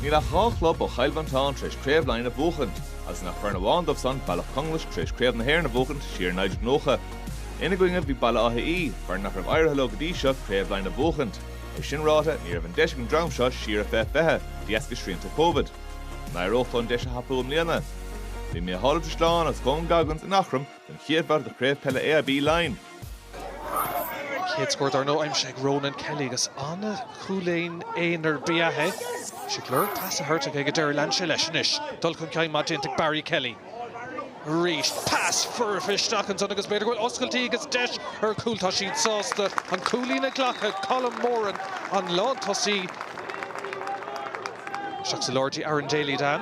Níl ach dhá chlub ó Chill Mhantáin tar éis Craobh Laighean a bhuachan, agus gan ach foireann amháin dóibh san, Bealach Conglais, tar éis Craobh na hÉireann a bhuachaint siar i 1990. Ina gcoinne, bhí Baile Átha Í, foireann nach raibh éirithe leo go dtí seo Craobh Laighean a bhuachaint. É sin ráite, ní raibh an deis ag an dream seo siar i bhfiche fiche, de dheasca srianta Covid. An éireodh leo an deis a thapú i mbliana? Bhí Micheál Ó Drisleáin agus Colm Coggins in Eachroim don chéad bhabhta de Chraobh Peile AIB Laighean. An chéad scór dar ndóigh aimsithe ag Ronan Kelly agus an-chúilín aonair ba ea é. Bhí sé ag lorg pas a thabhairt aige ag an deireadh, lean sé leis anois, dul chun cinn maith déanta ag Barry Kelly. Arís, pas foirfe isteach ansan agus b'fhéidir go bhfuil oscailtí agus deis ar chúl. Tá siad sásta an cúilín a ghlacadh, Colm Moran, an lántosaí. Isteach sa lár go dtí Aaron Daly, Dan.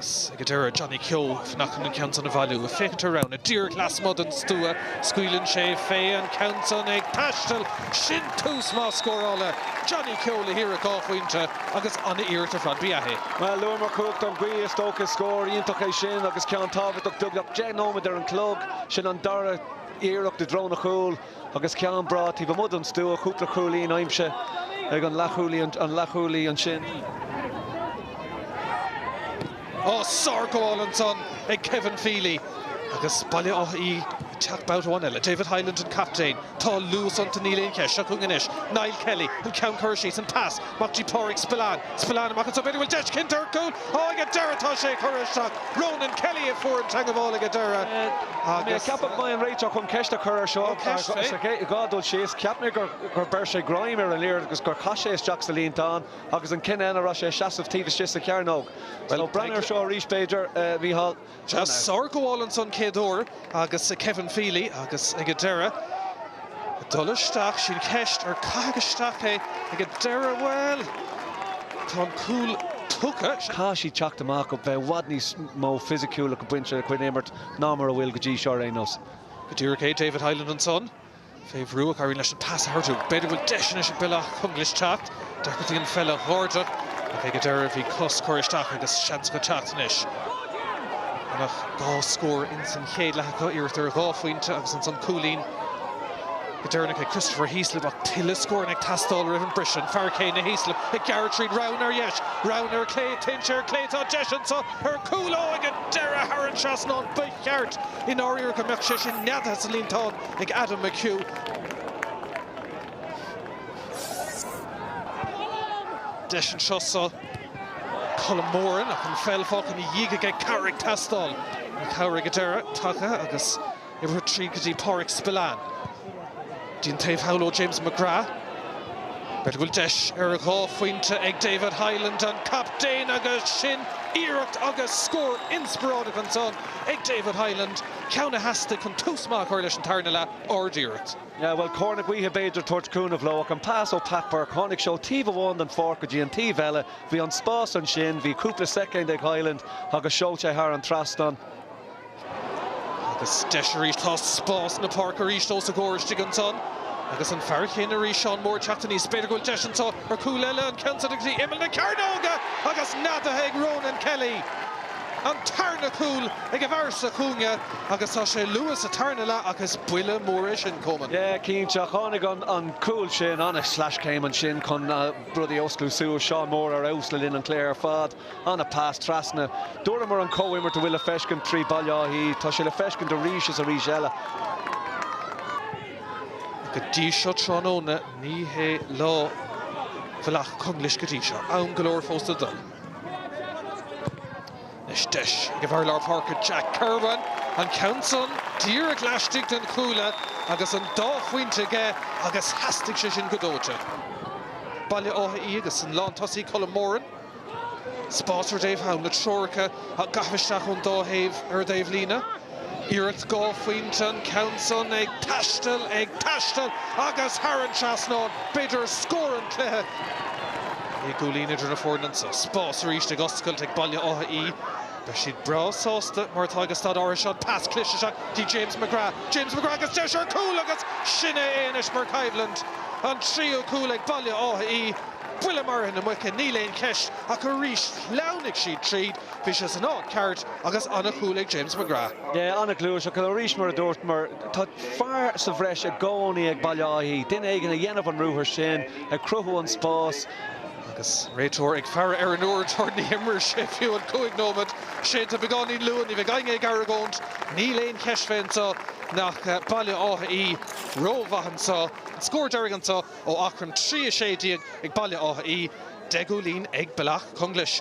Agus ag an deireadh, Johnny Keogh, féachann an ceann san a bhailiú. A féachaint ar rogha, a díreach lasmuigh den stua, scaoileann sé fé, an ceann san ag taisteal. Sin tús maith scórála. Johnny Keogh le hiarracht dhá phointe agus an-iarracht ar fad ba ea é. Bhuel, luaigh mé cumhacht na gaoithe is dócha. Scór iontach é sin agus ceann tábhachtach. Beagnach deich nóiméad ar an gclog. Sin an dara iarracht i dtreo an chúil. agus ceann breá taobh amuigh den stua, cúpla cúilín aimsithe ag an leathchúlaí ansin. Ó, sárghabháil ansan ag Kevin Feely agus Baile Átha Í ag teacht babhta amháin eile. David Hyland an captaen. Tá luas iontu, níl aon cheist. Seo chun cinn anois Niall Kelly, an ceann curtha síos, an pas. Mac Dé, Pádraig Spillane, Spillane Má chasann so b'fhéidir bhfuil deis cinnte ar chúl ó ag a deireadh tá sé curtha isteach Ronan Kelly a fuair an teangabháil ag a deireadh agus ceapaim go mbeidh an réiteoir chun ceist a chur ar seo ceist faoi é a bheith ag dul síos cheap mé gur gur bheir sé greim ar an liathróid agus gur chaith sé isteach sa líontán agus an cinneadh ná an raibh sé ina sheasamh taobh istigh sa chearnóg bhuel ó breathnaigh ar seo arís b'fhéidir Micheál Chas sárghabháil ansan chéad uair agus Kevin Feely agus ag a deireadh ag dul isteach sí'n cheist ar caitheadh isteach é ag a deireadh bhuel tá an cúl tugtha. Tá siad ag teacht amach caithfidh i bhfad níos mó fisiciúlacht ag baint lena gcuid imeartha ná mar a bhfuil go dtí seo ar aon nós. Go díreach é David Hyland ansan Fé bhrú ach éiríonn leis an pas a thabhairt. B'fhéidir go bhfuil deis anois ag Bealach Conglais teacht. D'fheicfeá bhí an feall á dhéanamh ach ag an deireadh bhí cos curtha isteach agus seans acu teacht anois. Gan ach dhá scór insan chéad leath acu, iarracht ar dhá phointe agus ansan cúilín go deireanach ag Christopher Heaslip ach tuilleadh scóranna ag teastáil roimh an briseadh. An fear céanna, Heaslip, ag gearradh tríd. Rogha ar dheis, rogha ar chlé, téann sé ar chlé, tá deis anso ar chúl. Ó, ag an deireadh thar an trasnán. Ba cheart i ndáiríre go mbeadh sé sin neadaithe sa líontán. ag Adam McHugh. Deis anseo ag Colm Moran ach an pheil fágtha ina dhiaidh aige, cabhair ag teastáil. An chabhair ag an deireadh tagtha agus uimhir 3 go dtí Páraic Spillane. Dtí an taobh thall ó James McGrath. B'fhéidir go bhfuil deis ar dhá phointe ag David Hyland, an captaen, agus sin iarracht agus scór inspioráideach ansan ag David Hyland. ceann a theastaigh chun tús maith a chur leis an tarna leath, ardiarracht. Bhuel, cóir na gaoithe b'fhéidir tabhairt cúnamh leo ach an pas ó Pat Burke, tháinig sé ó taobh amháin den pháirc go dtí an taobh eile, bhí an spás ansin, bhí cúpla soicind ag Hyland agus seoil sé thar an trasnán. Agus deis arís, tá spás na páirce arís os a gcomhair istigh ansan agus an fear chéanna arís, Seán Moore, ag teacht aníos. B'fhéidir go bhfuil deis ansan ar chúl eile, an ceann sin go dtí imeall na cearnóige agus neadaithe ag Ronan Kelly. an tarna cúl ag an bhfear sa chúinne agus tá sé luath sa tarna leath ach is buille mór é sin chomh maith. Yeah, cinnte, ach tháinig an cúl sin, an-sleaschéim ansin chun rudaí a osclú suas. Seán Moore ar fheabhas le linn an chluiche ar fad, an-pass trasna. Dúramar an comhimirt a bhfuil le feiscint trí Bhaile Átha Í, tá sé le feiscint arís is arís eile. Go dtí seo tráthnóna ní hé lá Bhaile Átha Conglais go dtí seo. Am go leor fós le dul. Anois deis ag an bhfear lár páirce Jack Kirwan, an ceann san díreach laistigh den chuar agus an dá phointe aige agus theastaigh sé sin go dóite. Baile Átha Í agus an lántosaí Colm Moran. Spás ar Dave Hyland, na treoracha á gcaitheamh isteach ón dá thaobh ar an dtaobhlíne. Iarracht dhá phointe an ceann san ag taisteal, ag taisteal agus thar an trasnán, b'fhéidir scór an chluiche. Naoi gcúilín idir na foirne anseo. Spás arís ag oscailt ag Baile Átha Í. Beidh siad breá sásta mar atá ag an staid áirithe seo an pas cliste isteach go dtí James McGrath. James McGrath agus deis ar chúl agus sin é é anois mar chomhlann. An tríú cúl ag Baile Átha Í. Buille maraithe na muice, níl aon cheist ach arís shleamhnaigh siad tríd. Bhí sé san áit ceart agus an-chúl ag James McGrath. Yeah, an-ghluais. Ach arís, mar a dúramar, tá fear sa bhreis i gcónaí ag Baile Átha Í, duine éigin ag déanamh an ruathar sin, ag cruthú an spás. Agus an réiteoir ag faire ar an uaireadóir ní imreoidh sé fiú an cúig nóiméad sin. Tá sé beagáinín luath, ní bheidh éinne ag argóint. Níl aon cheist fé anseo ach Baile Átha Í rómhaith anseo. An scór deiridh anseo ó Aughrim 3 16 ag Baile Átha Í, deich gcúilín ag Bealach Conglais.